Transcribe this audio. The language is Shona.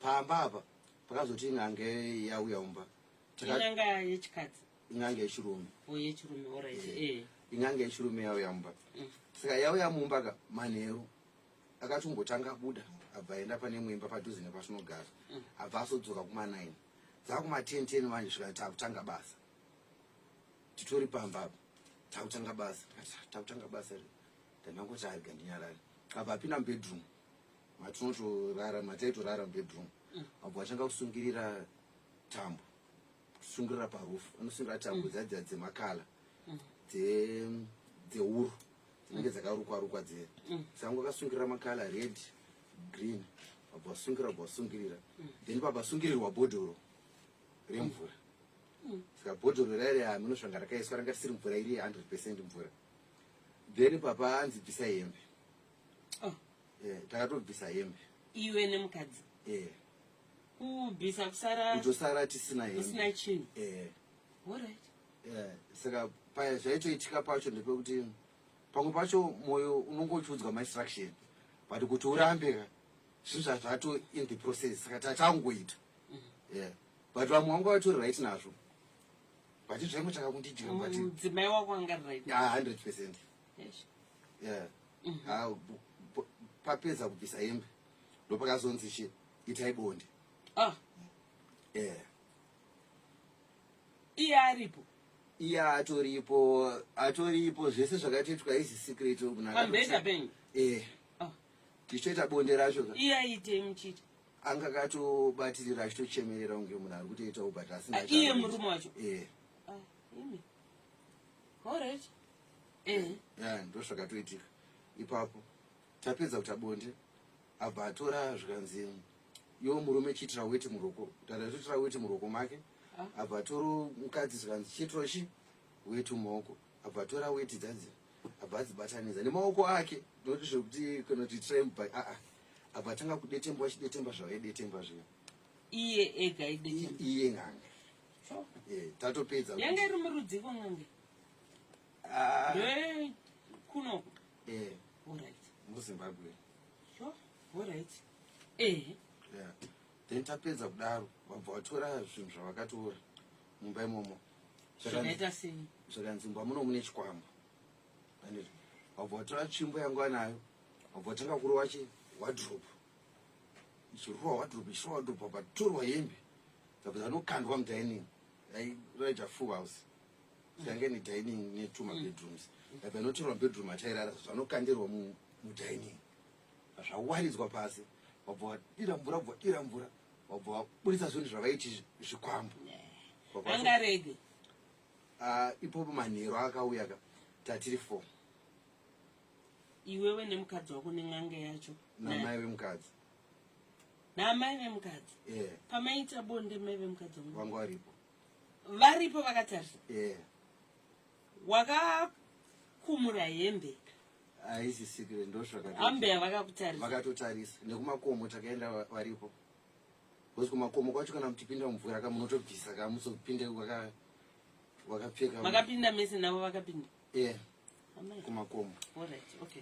pamba apa pakazoti n'anga yauya umba inanga yechikadzi inanga yechirume oh, yechirume orit eh, eh. inanga yechirume yauya mumba mm. saka yauya mumba ka manheru akati ungotanga abuda abva aenda pane muimba padhuze nepatinogara mm. abva asodzoka kuma9 dzakumaten ten manje svika takutanga basa titori pamba apa takutanga basa takutanga basa re ndanangoti arga ndinyarari abva apinda mubedroom matinotorara mataitorara mubedroom abva atanga kusungirira tambo kusungirira parufu anosungirira tambo mm. dzadza dzemakala mm. dzeuru dzinenge dzakarukwa rukwa dzee mm. sangu akasungirira makala red green abva asungirira abva asungirira then pabva asungirirwa bhodhoro remvura saka bhodhoro rairi aminosvanga rakaiswa ranga risiri mvura iri 100 percent mvura then papa anzi bvisa hembe eh, takatobvisa hembe iwe nemukadzi eh. kubvisa kusara kutosara tisina hembe usina chinhu eh. alright eh, saka paya zvaitoitika pacho ndepekuti pamwe pacho mwoyo unonge uchiudzwa mainstruction but kuti urambe ka zvinhu zvazvato in the process saka tatangoita mm -hmm. yeah. but vamwe vanga vatori right nazvo but zvaimotaka kundidira but mudzimai wako anga right ah, 100 percent yeah. mm -hmm. ha, bu, bu, papedza kubvisa hembe ndopakazonzi chi itai bonde ah. yeah. iye aripo iye atoripo atoripo zvese zvakatoitwa izi secret pambenda penyu eh. ah. tichitoita bonde racho iye aitei muchiti anga katobatirira achitochemerera kunge munhu ari kutoita ubata asina ah, iye murume wacho eh. ah, all right eh. yeah, ndozvakatoitika ipapo tapedza kuta bonde abva atora zvikanzi yo murume chitira weti muroko tatatoitira weti muroko make ah. abva atoro mukadzi zvikanzi chitiro chi weti mumaoko abva atora weti dzadzi abva adzibatanidza nemaoko ake noti zvekuti kana kuti tramp by aa abva atanga kudetemba achidetemba zvavaidetemba zviya iye ega iye n'anga eh, tatopedza yanga iri murudziko n'anga Ah. Hey, kuno. Eh. All right. MuZimbabwe. Sure. All right. Eh. Yeah. Then tapedza kudaro vabva vatora zvinhu zvavakatora mumba imomo. Zvakaita sei? Zvakanzi mumba muno mune chikwambo. Vaneti vabva vatora tsvimbo yangu anayo. Vabva vatanga kurova chi wardrobe. Ichirova wardrobe, ichirova wardrobe, vabva torwa hembe. Vabva vanokandwa mudining. Yairaita full house. yanga ine dining netwo mabedrooms but anotorwa bedroom achairara zvanokandirwa mudining zvawaridzwa pasi wabva wadira mvura wabva wadira mvura wabva waburitsa zvinhu zvavaiti zvikwambo angarege ah, ipopo manheru akauya ka tatiri four iwewe nemukadzi wako nen'anga yacho namai vemukadzi namai vemukadzi pamaita bonde mai vemukadzi wangu vangu varipo varipo vakatarisa yeah. wakakumura hembe haisi sikire ndosvakaambeya vakakutarisa vakatotarisa nekumakomo takaenda varipo bcause kumakomo kwacho kana mutipinda mumvura ka munotobvisa ka musopinde wakapfeka makapinda mese navo vakapinda yeah. kumakomo All right. okay.